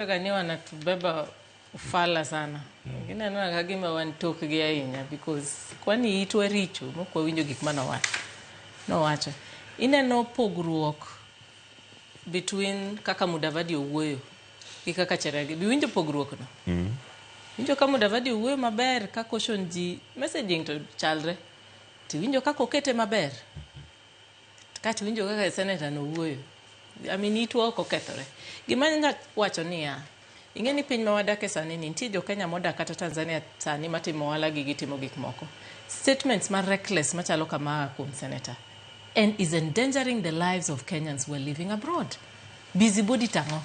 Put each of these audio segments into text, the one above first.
Gani wanatubeba ufala sana wengine mm. anona kagima wan tokgi ahinya because kwani itwa richo mok wawinjo gik ma nowacho nowacho ineno pogruok between kaka mudavadi owuoyo gi kaka cheragi biwinjo pogruokno mm. winjo ka mudavadi owuoyo maber kaka oshon ji messaging to chalre tiwinjo kaka okete maber Kato winjo kaka seneta no wuoyo. I mean itwa ok okethore. Gima nya wacho niya, ing'e ni piny ma wadake sani ni nitie jo Kenya modak kata Tanzania sani matimo ohala gi gitimo gik moko. Statements ma reckless machalo kama kuom senator and is endangering the lives of Kenyans who are living abroad. Busybody tang'o?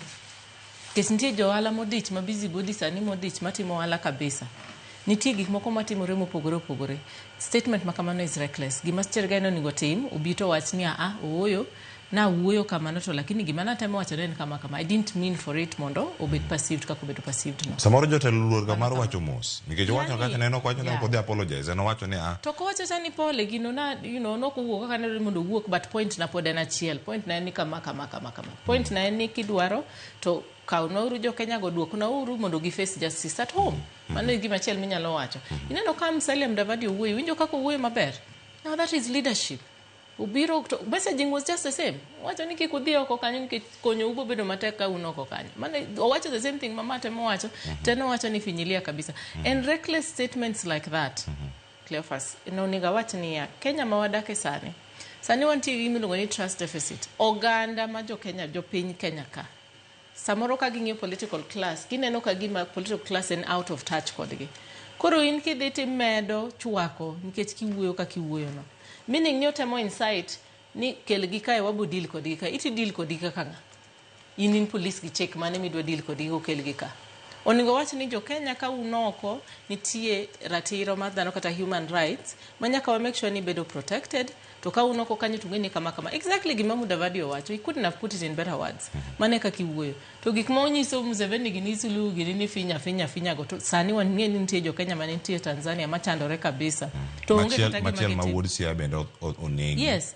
Nikech nitie jo ohala modich ma busy body sani modich matimo ohala kabisa. Nitie gik moko matimore mopogore opogore. Statement ma kamano is reckless. Gima Steer Guy ne onego otim, obi to owach ni aa, ooyo, nawuoyo kamano to lakini gima natemo wacho ne en kama kama. I didn't mean for it mondo obed perceived kaka obedo perceived no. Samoro jotelo oluor ga mar wacho mos. Nikech owacho Yani, kaka neno kwacho ne yeah. ok odhi apologize. En owacho ni a. To kowacho cha ni pole gino na, you know, nok owuok kaka ne dwarore ni mondo owuok but point na pod en achiel. Point na en ni kama kama kama kama. Point na en ni kidwaro to kawna uru jo Kenya go duokna uru mondo gi face justice at home. Mano e gima achiel minyalo wacho. Ineno ka Musalia Mudavadi owuoyo, winjo kaka owuoyo maber. Now that is leadership. Obiro to messaging was just the same. Wacho ni kik udhi oko kanyo nikech konyo ubo bedo matek ka un oko kanyo. Mano owacho the same thing mama temo wacho, teno wacho ni finyilia kabisa. And reckless statements like that. Cleophas ne onego awach niya, Kenya ma wadake sani, sani wantie gi gimiluongo ni trust deficit. Oganda ma jo Kenya, jo piny Kenya ka, samoro ka ging'iyo political class, gineno ka gima political class en out of touch kodgi. Koro in kidhi timedo chwako nikech kiwuoyo kaka iwuoyono. Meaning ni otemo incite ni kelgi kae wabo deal kodgi kae. Iti deal kodgi kaka ng'a? In in police gi chek mane midwa deal kodgi kokel gi ka? Oningo wach ni jo Kenya ka un oko nitie ratiro mar dhano kata human rights ma nyaka wa make sure ni bedo protected to ka un oko kanyo tungeni kama kama. Exactly gima Mudavadi owacho. He couldn't have put it in better words. Mane kaka iwuoyo. To gik ma onyiso Museveni gi ni Suluhu gi ni finya finya finya go to sani wang'e ni nitie jo Kenya mane nitie Tanzania machandore kabisa. To onge Machiel kata gima machiel ma gitimo. wuod Siaya bende o- o- onegi. Yes.